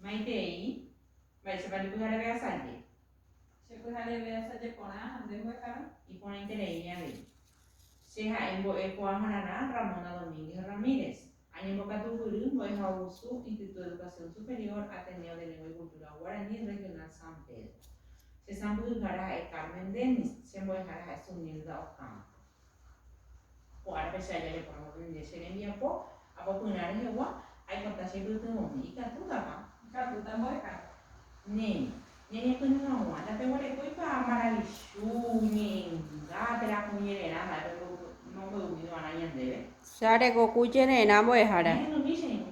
Maitei, mba'éichapa ndepyhareve asaje. Che pyhareve asaje porã ha nde mbo'ehára. Iporãitereími avei. Che ha'e mbo'e ko'ãhararã Ramona Domínguez Ramírez. Añembokatu guýry mbo'ehaovusu Instituto de Educación Superior Ateneo de Lengua y Cultura Guaraní Regional San Pedro. Che sãmbyhyhára ha'e Carmen Dennis, che mbo'ehára ha'e Sunilda Ocampo. Ko árape che aja reporavo rire che rembiapo, apopyrã rehegua, aikota che pytyvõmi, ikatútapa? Ikatúta mbo'eha. Néi, ñañepyrũ hag̃ua, ndapeguerekói pa maravichu, ñe'ẽnga, térã hũ jererã mba'e pemboy'u, momboy'umi g̃uarã ñandéve. Che arekoku jererã mbo'ehára. Ñahenduvi che irũ.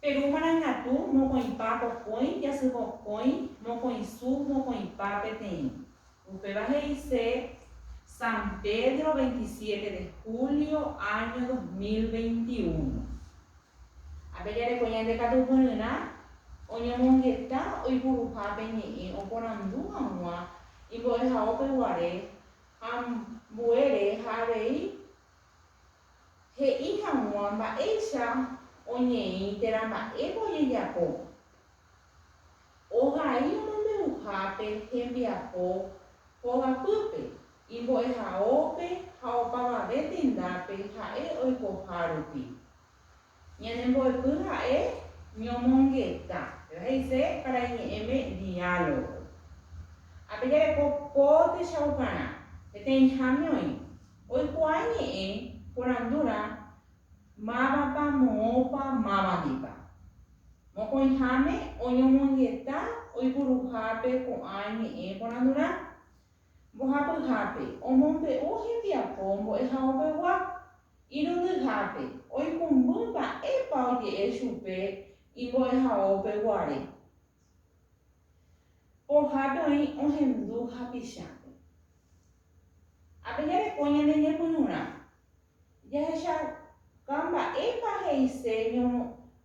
Peru marangatu mokõipa pokõi jasy mokõi mokõisu mokõipa peteĩ. Upéva he'ise San Pedro veintisiete de julio año dos mil veintiuno. Ápe jareko ñande katu poryrã oñomongeta oipuruha pe ñe'ẽ oporandu hag̃ua imbo'ehaópe guare ha ambuére ha avei He'i hag̃ua mba'éicha oñeĩ térã mba'épa ojejapo. Ohai omombe'uhápe hembiapo hogapýpe, imbo'ehaópe ha opavave tendápe ha'e oikohárupi, Ñanembo'epy ha'e ñomongeta. Péva he'ise para iñe'ẽme diálogo. Ha pejareko po techaukarã. Peteĩháme oĩ. Oikuaa ñe'ẽ porandúrã mávapa, moõpa, mávandipa. Mokõiháme oñomongeta oipuruhápe ko'ã ñe'ẽ porandúrã. Mbohapyhápe, omombe'u hembiapo mbo'ehaovegua Irundyhápe, oikũmby mba'épa oje'e chupe imbo'ehaópe guare. Pohápe oĩ ohendu hapichápe. Ha pejareko ñane ñepyrũrã, jahechauka mba'épa he'ise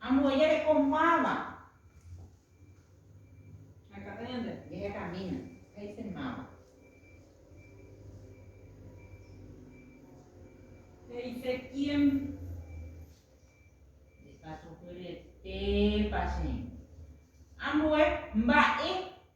Ambue jareko máva. Akãta ñande. Jahekamína. He'ise máva. He'ise quién. Jesús hyetépa che. Ambue mba'e.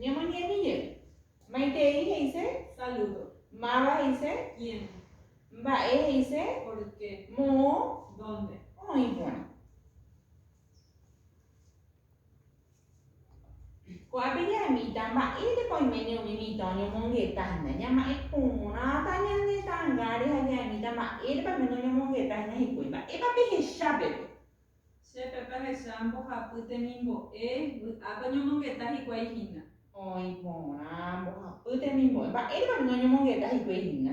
Ñemoñe'ẽmi jey. Maitei he'ise. Saludo. Máva he'ise. Quién. Mba'e he'ise. Por qué. Moõ. Dónde. Oĩ porã. Ko'ápe ja'emíta mba'érepa oiméne umi mitã oñomongeta hína. Ñama'ẽ porãta ñane tangáre ha ja'emíta mba'érepa oiméne oñomongeta hína hikuái. Mba'épa pehecha pepe? Che pepe ahecha mbohapy temimbo'e, vy'ápe oñomongeta hikuái hína. Oĩ porã mbohapy temimbo'e. Mba'érepa oiméne oñomongeta hikuái hína?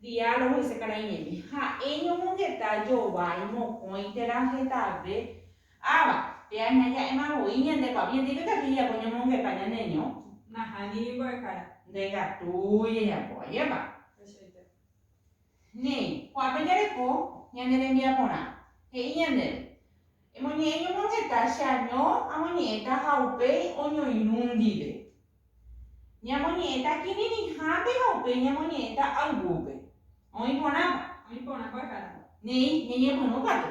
Diálogo Isekaraimeme. Ha'e ñomongeta jovái mokõi térã hetave Ava, pe aña ja'éma voi ñande kuapi jetípe katu ijapo ñomongeta ñaneño. Nahániri mbo'ehára. Nde katu ijajapo ajépa. Tuichaite. Néi, ko'ápe jareko ñane rembiaporã. He'i ñandéve. Emoñe'ẽ ñomongeta che año amoñe'ẽta ha upéi oñoirũ ndive. Ñamoñe'ẽta kirirĩhápe ha upéi ñamoñe'ẽta ayvúpe. Oĩ porãpa? Oĩ porã kuakuérã. Néi, ñañepyrũ katu.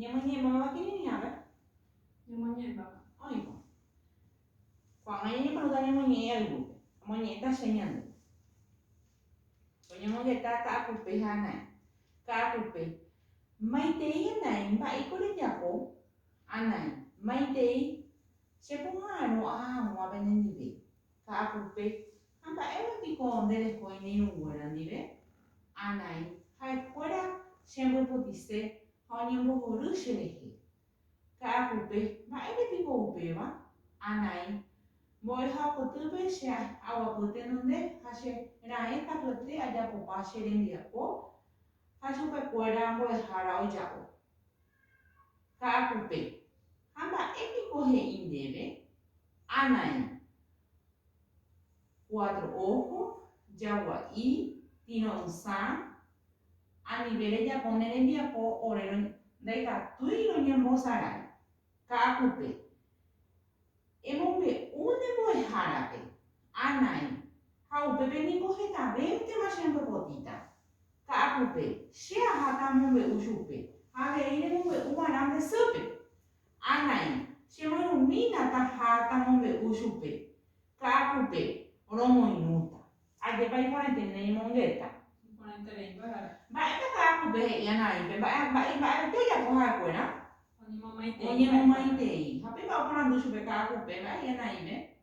Ñamoñe'ẽmbaváva kirirĩhápe? Ñamoñe'ẽmbáva. Oĩkuri. Ko'ág̃a ñañepregunta ñamoñe'ẽ algúpe. Amoñe'ẽta che ñande. Oñemongeta ka'akupe ha ana'ỹ. Ka'akupe. Maitei ana'ỹ. Mba'éiko rejapo? Ana'ỹ. Maitei. Che poha'arõ aha hag̃ua penendive. Ka'akupe. Ha mba'épa piko nde reko iñirũ nguéra ndive? Anai ha'e kuéra che ambipotise ha oñembohory che rehe. Ka'akupe, mba'ére piko upéva? Anai mbo'eha kotýpe che aguapy tenonde ha che raẽ katuete ajapopa che rembiapo ha chupe kuéra mbo'ehára oja'o. Ka'akupe. Ha mba'e piko he'i ndéve, Anaĩ, cuatro ojo, jagua'i, tiro'ysã, anive rejapo ne rembiapo ore ndaikatúi roñembosarái, ka'akupe. Emombe'u ne mbo'ehárape, Anaĩ, Ha upépe ningo hetavéntema che ambopotĩta. Ka'akupe, che aháta amombe'u chupe, ha avei remombe'u va'erã nde sýpe. Anai, che moirũmína taha tamombe'u chupe. Ka'akupe, romoirũta. Ajépa iporãite ne imongueta! Iporãite reĩpa ha'e. Mba'épa ka'akupe he'i Anaípe mba'e, mba'e, mba'evete ojapo ha'e kuéra? Oñemomaitei. Oñemomaitei. Ha péipa oporandu chupe ka'akupe, mba'e he'i Anaípe?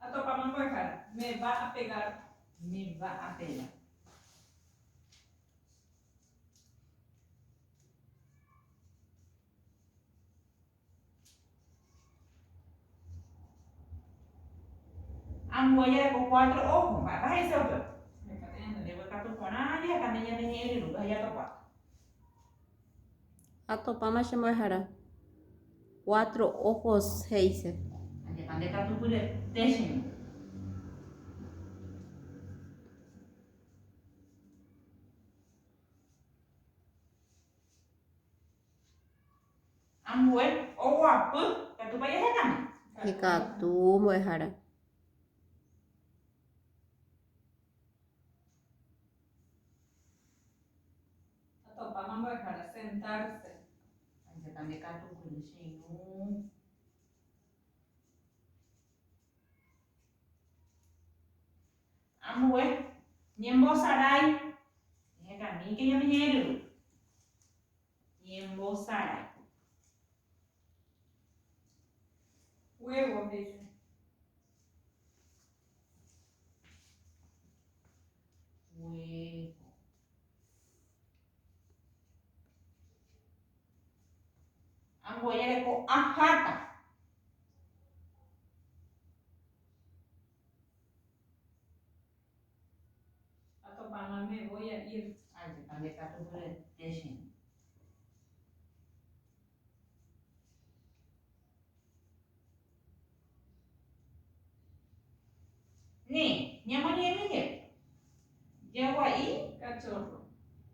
Atopáma mbo'ehára. Me va a pegar. Me va a pegar. Ambue jareko cuatro ojo, mba'épa he'ise upéva? Heta ñandenévo ikatu porã, heta nde ñandehe'ẽ ryrúpe ha jatopa. Ha topáma che mbo'ehara. Cuatro ojos he'ise. Ajépa nde katu pyre'te che ñe'ẽ. Ambue oguapy, ikatúpa jahekáma? Ikatu mbo'ehara. Atopáma mbo'ehára sentárse. Ajépa nde katu kuri che irũ. Ambue. Ñembosarái. Ehekamíke ñane ñe'ẽryrõ. Ñembosarái. Huevo hecha. Huevo. Amboyereko aháta. Ha topãma me voi a ir. Ajépa nde katu mbyete che rĩ. Ni, ñamoñe'ẽmi jey. Jegua'i. Kachorro.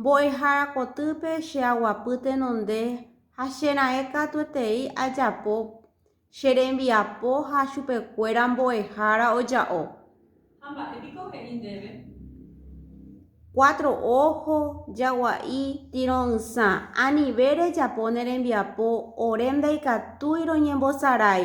Mbo'ehára kotýpe che aguapy tenonde ha che raẽ katuetei ajapo che rembiapo ha chupekuéra mbo'ehára oja'o. Ha mba'e piko he'i ndéve? Cuatro ojo, jagua'i, tiro'ysã, anive rejapo ne rembiapo ore ndaikatúi roñembosarái.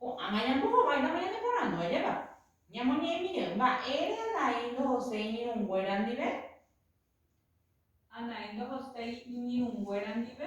Ko'ãma ñambo hováita pe ñane porandu ajépa, ñamoñe'ẽmírõ, Mba'ére Anaí ndohoséi iñirũnguéra ndive? Anaí ndohoséi iñirũnguéra ndive.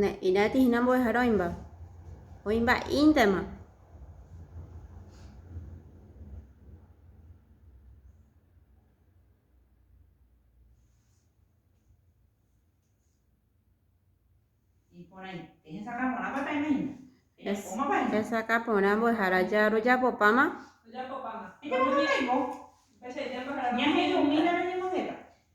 Ne'írãiti hína mbo'ehára oĩmba. Oĩmba'íntema. Hesakã porã mbo'ehára rojapopáma.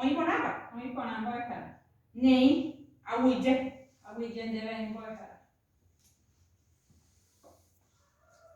Oĩ porãpa? Oĩ porã mbo'ehára. Neĩ, aguyje. Aguyje ndéve aĩ mbo'ehára.